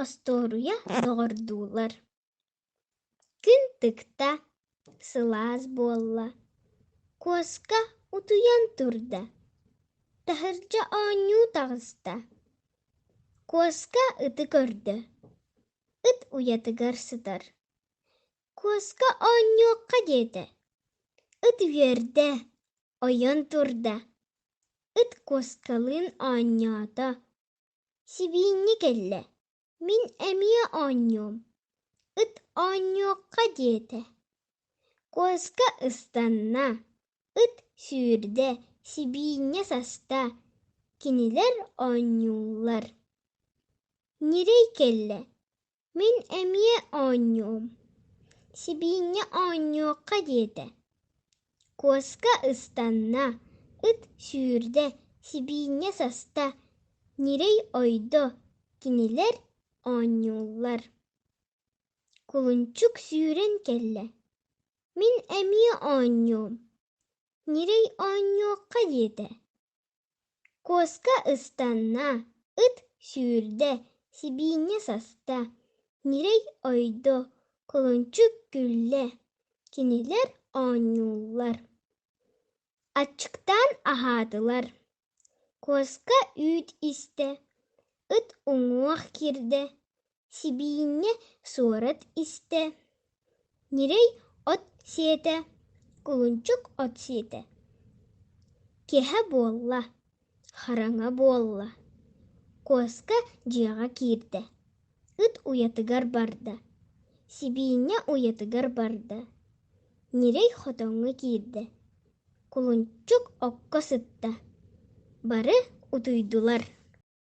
Остуоруйа доҕордуулар Күн тыкта, сылаас буолла, куоска утуйан турда, таһырдьа оонньуу таҕыста. Куоска ыты көрдө, ыт уйатыгар сытар. Куоска оонньуохха диэтэ, ыт үөрдэ, ойон турда, Ыт куоскалыын оонньоото. Сибиинньэ кэллэ. Мин эмиэ оонньуом. Ыт оонньуохха диэтэ. Куоска ыстанна. Ыт сүүрдэ, сибиинньэ саста. Кинилэр оонньууллар. Ньирэй кэллэ. мин эмиэ оонньуум сибиинньэ оонньуохха диэтэ куоска ыстанна ыт сүүрдэ сибиинньэ саста ньирэй ойдо кинилэр оонньууллар кулунчук сүүрэн кэллэ мин эмиэ оонньуум ньирэй оонньуохха диэтэ куоска ыстанна, ыт сүүрдэ, сибиинньэ саста, ньирэй ойдо, кулунчук күллэ, кинилэр оонньууллар. Аччыктаан аһаатылар. Куоска үүт истэ, ыт уҥуох киирдэ, Сибиинньэ суорат истэ, ньирэй от сиэтэ, кулунчук от сиэтэ, киэһэ буолла, хараҥа буолла, Куоска дьиэҕэ киирдэ, ыт уйатыгар барда, сибиинньэ уйатыгар барда, ньирэй хотоҥҥо киирдэ, кулунчук окко сытта, бары утуйдулар.